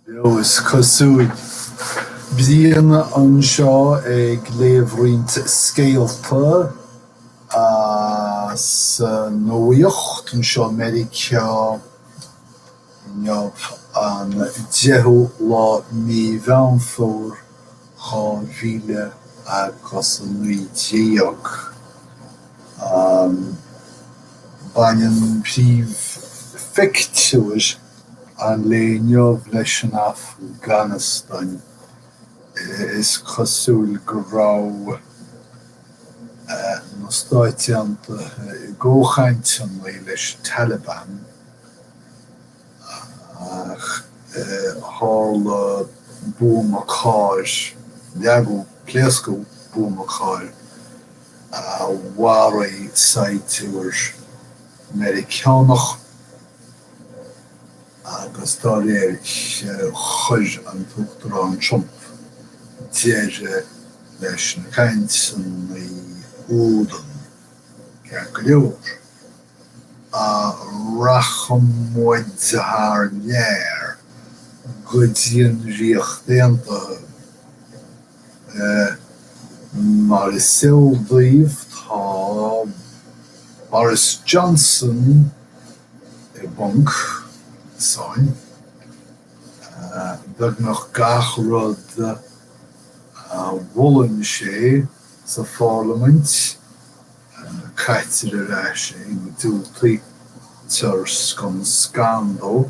Beo is cosúil. Brian anseo ag léamh roinnt scéalta as an nuacht anseo i Meiriceá inniu, an 10ú lá Mí Mheán Fómhair. 2019. Baineann príomhphictiúir an lae inniu leis an Afganastáin. Is cosúil go raibh na Stáit Aontaithe i gcomhchainteanna leis an Taliban, Ach tharla buama cairr, leagadh, pléascadh buama cairr a mharaigh saighdiúir Meiriceánach agus dá réir chuir an tUachtarán Trump deireadh leis na cainteanna údaí, ceart go leor. Ah, rachaidh muid thar lear go dtí an Ríocht Aontaithe. Eh, mar is eol daoibh, tá Boris Johnson i bponc, sáinn, beagnach gach rud a mholann sé sa pharlaimint, Caitear ar ais é, diúltaítear scun scan dó.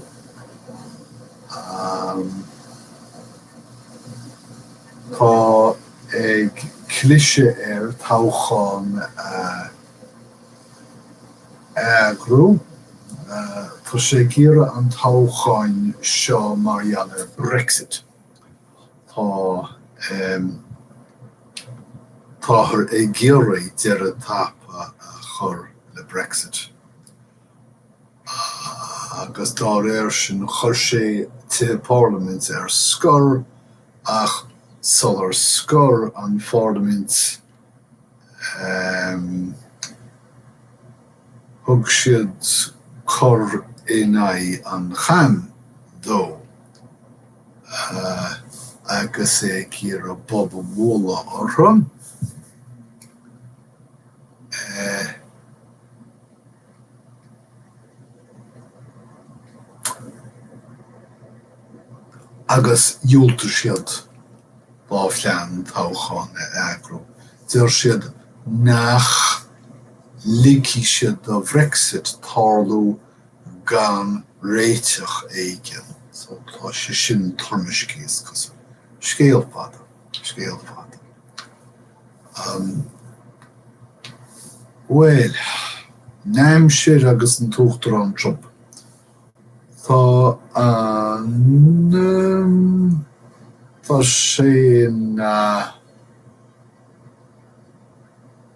Tá ag cliseadh air toghchán a eagrú. Tá sé ag iarraidh an toghcháin seo mar gheall ar Brexit. Tá, táthar ag iarraidh deireadh tapa a chur le Brexit agus dá réir sin chuir sé an Pharlaimint ar scor ach sular scoir an Pharlaimint thug siad cor in aghaidh an chaim dó. agus é ag iarraidh bob a bhualadh orthu, agus dhiúltaigh siad dá phlean toghchán a eagrú. Deir siad nach ligfidh siad do Bhrexit tarlú. gan réiteach éigin. So, tá sé sin toirmiscthe, is cosúil. Scéal fada. Scéal fada. Ahm. Bhuel, an aimsir agus an tUachtarán Trump. Tá an ahm, tá sé ina.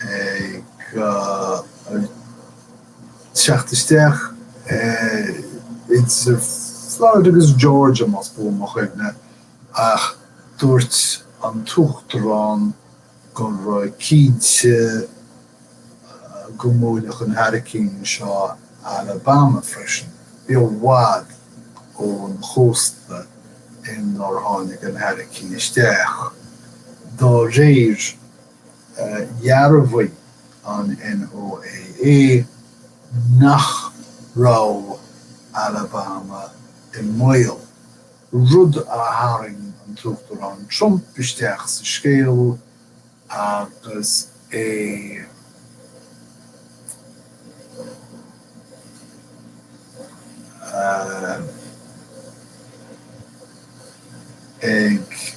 ag teacht isteach idir Florida agus Georgia más buan mo chuimhne ach dúirt an tUachtarán go raibh sé cinnte go mbuailfeadh an hairicín seo Alabama freisin. Bhí i bhfad ón chósta ar ar tháinig an hairicín isteach, dá réir. Dhearbhaigh an NOAA nach raibh Alabama i mbaol, rud a tharraing an tUachtarán Trump isteach sa scéal agus é ag.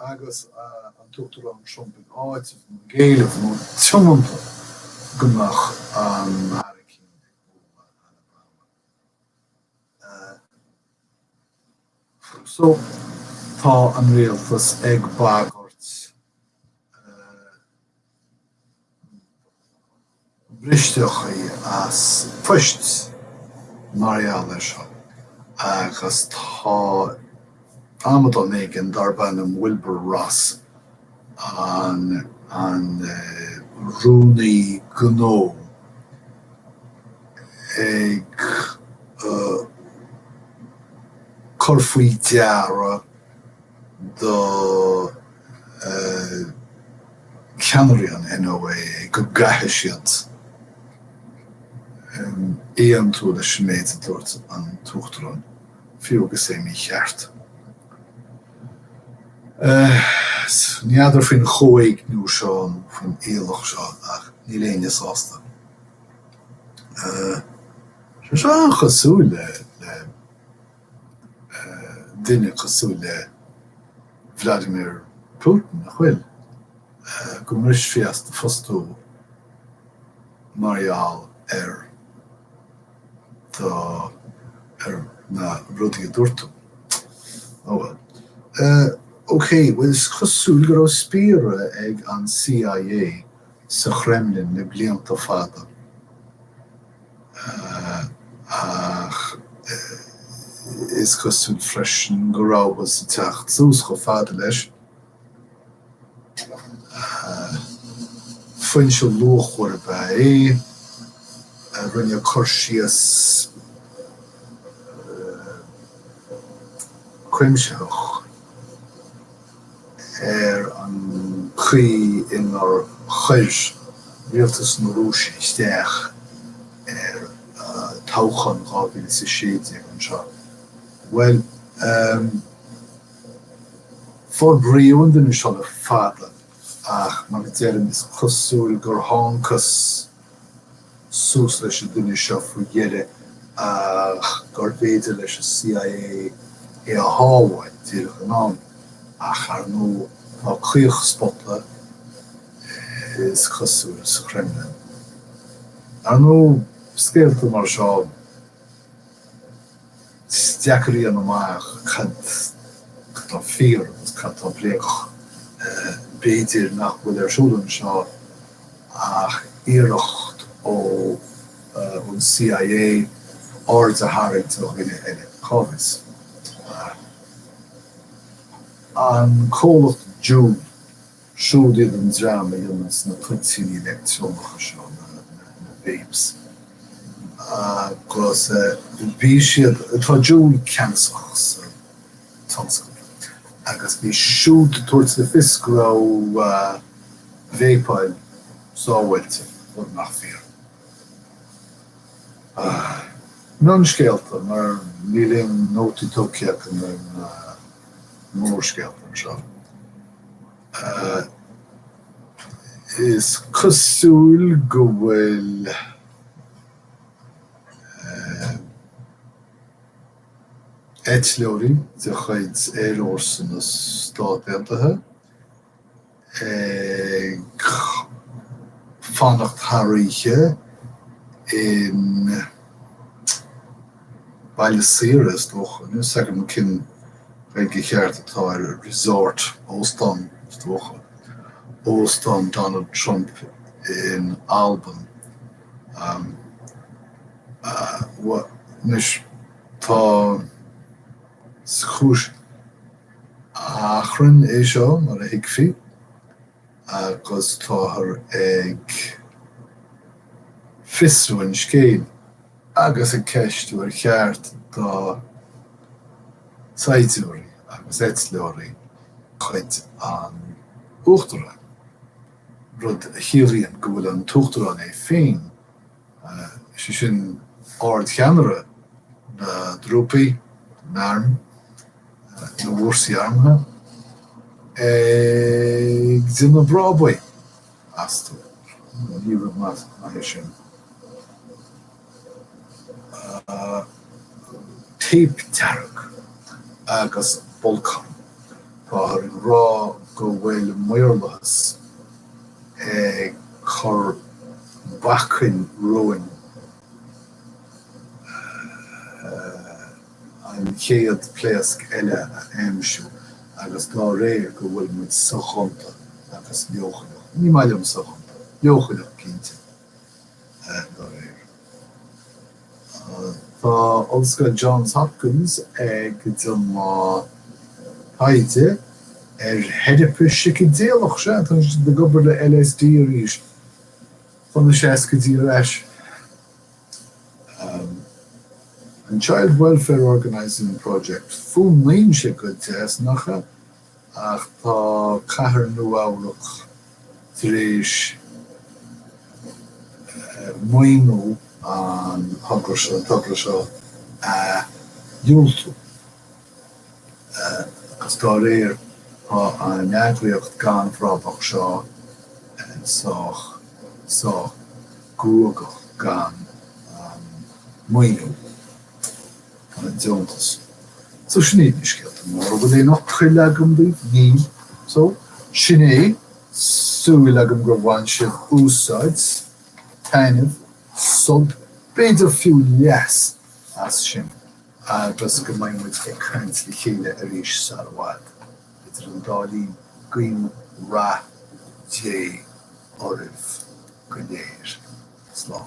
agus an tUachtarán Trump ag áiteamh nó ag éileamh nó tiomanta go mbeadh an hairicín ag bualadh Alabama. So, tá an rialtas ag bagairt. briseadh as poist mar gheall air seo agus tá amadán éigin darb ainm Wilbur Ross, an rúnaí gnó, ag cur faoi deara do. ceannairí an NOAA go gcaithfidh siad aontú leis an méid a dúirt an tUachtarán, fiú agus é mícheart. N'fheadar faoin chomhéigniú seo nó faoin iallach seo ach níl éinne sásta. Tá sé seo an-chosúil le. duine cosúil le Vladimir Putin, nach bhfuil? Go mbrisfí as do phost thú mar gheall ar do, ar na rudaí a dúirt tú. Oh well. OK, bhuel is cosúil go raibh spiaire ag an C.I.A. sa Khremlin le blianta fada. ach is cosúil freisin go rabhthas ag teacht suas chomh fada leis. Foinse luachmhar ab ea é a rinne cur síos cuimsitheach, ar an gcaoi inar chuir rialtas na Rúise isteach ar toghchán 2016 anseo. Bhuel, em, forbraíodh an duine seo le fada ach, mar a deirim, is cosúil gur thángthas. suas leis an duine seo faoi dheireadh ach gurbh fhéidir leis an CIA é a shábháil, díreach in am. Ach ar ndóigh, tá caochspota, is cosúil, sa Khremlin. Ar ndóigh, scéalta mar seo. Is deacair a dhéanamh amach cad atá fíor agus cad atá bréagach. B'fhéidir nach bhfuil ar siúl anseo ach iarracht ó an CIA aird a tharraingt ar dhuine eile. Cá bhfios? An comhlacht Juul? Siúd iad an dream a dhéanann na toitíní leictreonacha seo, na vapes, agus bhí siad, tá Juul ceannasach sa tionscal agus bhí siad ag tabhairt le fios go raibh véipeáil sábháilte, rud nach fíor. Mionscéalta, mar níl aon nótaí tógtha agam ar na mórscéalta anseo. Is cosúil go bhfuil eitleoirí de chuid Aer Fhórsa na Stát Aontaithe ag fanacht thar oíche in. Baile saoire, is dócha, níl fhios agam cén Ghaeilge cheart atá ar 'resort', óstán, is dócha, Óstán Donald Trump in Albain. Anois, tá, is cúis achrainn é seo, mar a thuigfí. agus táthar ag fiosrú an scéil agus ag ceistiú ar cheart do shaighdiúirí agus eitleoirí cuid an Uachtaráin, rud a chiallaíonn go bhfuil an tUachtarán é féin, sé sin, ardcheannaire na dtrúpaí, na n-arm, na bhfórsaí armtha, ag déanamh brabaí astu. Ní rud maith é sin. Téip dearg agus bolcán. Táthar ag rá go bhfuil maorlathas ag cur bacainn romhainn. an chéad pléasc eile a aimsiú agus dá réir go bhfuil muid soghonta agus leochaileach, ní maith liom soghonta, leochaileach cinnte, dá réir. Tá Ollscoil Johns Hopkins ag déanamh taighde ar theiripe sícideileach, sea, tá siad ag obair le LSD arís, tá na seascaidí ar ais. an Child Welfare Organising Project. Fuaimníonn sé go deas, nach ea, ach tá cathair Nua-Eabhrac tar éis maoiniú an togra seo a dhiúltú. agus dá réir tá an eagraíocht gan bhrabach seo sách sách guagach gan maoiniú an deontais. So sin iad na scéalta móra. An bhfuil aon fhocail agam daoibh? Níl. So sin é, súil agam gur bhain sibh úsáid, taitneamh, sult, b'fhéidir fiú leas as sin. agus go mbeidh muid ag caint le chéile arís sar i bhfad. Idir an dá linn, guím rath Dé oraibh go léir. Slán.